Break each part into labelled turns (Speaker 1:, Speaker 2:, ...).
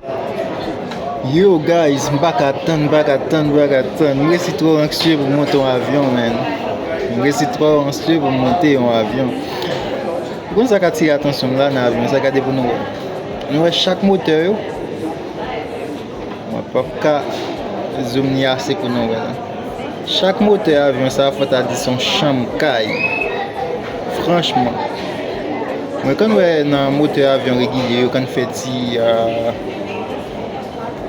Speaker 1: Yow guys m paka tann m paka tann m paka tann m resi trò anksye pou m monte yon avyon menn m resi trò anksye pou m monte yon avyon ou konn sa k atire atansyon m la nan avyon sa gade pou nou wè nou wè chak motè yo mwen p ap ka zoom ni ase pou nou wè chak motè avyon sa fò ta di s on chanm kay franchman mwen konn wè nan motè avyon regilye yo konn fè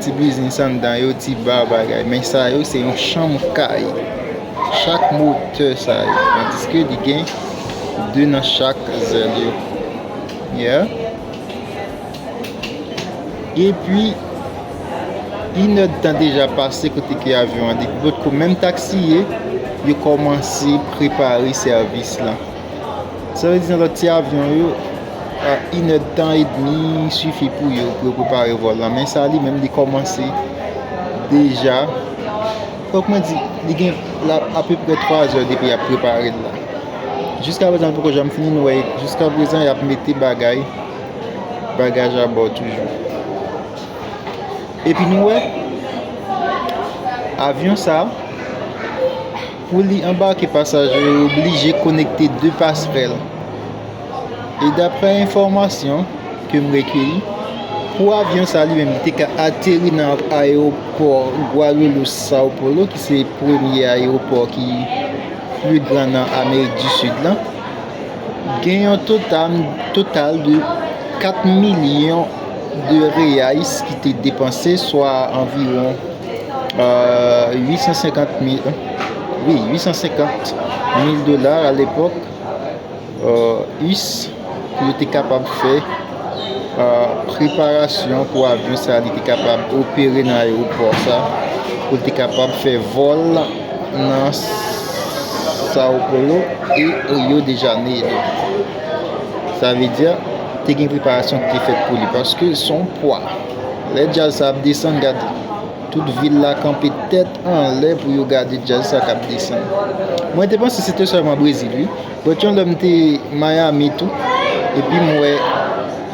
Speaker 1: Ti biznis anndan yo, ti ba bagay. Men sa yo se yon chanm kay. Chak motè sa yo. Tandiske li gen 2 nan chak zèl yo. Yeah. E pi, inè tan deja pase kote ke avyon an. Depot ko menm taksiye, yo kòmanse prepare sèvis lan. Sa vle di nan lòt ti avyon yo, inèdtan edmi sifi pou yo pou yo prepare vòl la. Men sa li menm li kòmanse deja, fòk mwen di, li gen apeprè 3 zè depi y ap prepare l la. Jiska prezan l poko janm fini, nou wè jiska prezan y ap mete bagay, bagaj abò toujou. Epi nou wè, avyon sa. Pou li anbake pasaje yo oblije konekte 2 pasrèl. E daprè enfòmasyon ke m rekeyi, pou avyon sa li menm li te ka ateri nan ayewopò Guarulhos Sao Paulo ki se premye ayewopò ki pli gran nan Amerik di Sid lan, gen yon total de 4 milyon de reais ki te depanse swa anviwon. 850 mil, oui, 850 mil dolar a l'epok, us, pou yo te kapab fè preparasyon pou avyon sa li te kapab opere nan aeroport sa, pou li te kapab fè vol nan Sao Polo e Rio de Janeiro. Sa ve diya, te gen preparasyon ki te fèt pou li, paske son pwa. Lè djaz sa ap desann gad tout vil la kanpe tèt anlè pou yo gade djaz sa kap desann mwen te panse se te sèlman brezil wi but yon lè m te miami tou epi m wè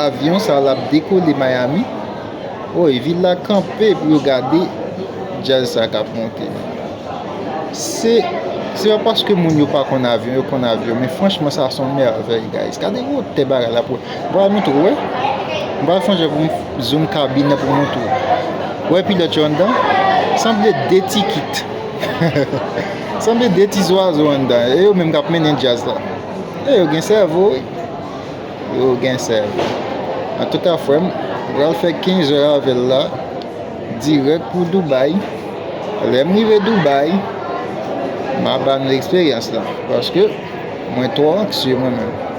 Speaker 1: avyon sa lap dekole miami woy vil la kanpe pou yo gade djaz sa kap monte se se pa paske moun yo pa konn avyon yo konn avyon men franchman sa son mèvèy guys gade gwo tè bagay la pou Mwen pral montre w wi. Mwen pral sonje pou m zoom kabin nan pou m montre w. Ou wè pilòt yo anndan? Sanble 2 ti kit. Sanble 2 ti zwazo anndan. E yo menm k ap mennen djaz la. E yo gen sèvo wi. Yo gen sèvo. Antouka frè m, m pral fè 15 zè avè l la. Dirèk pou Doubay. Lè m rive Doubay, m a ba nou eksperyans la. Paske mwen twò anksye mwen menm.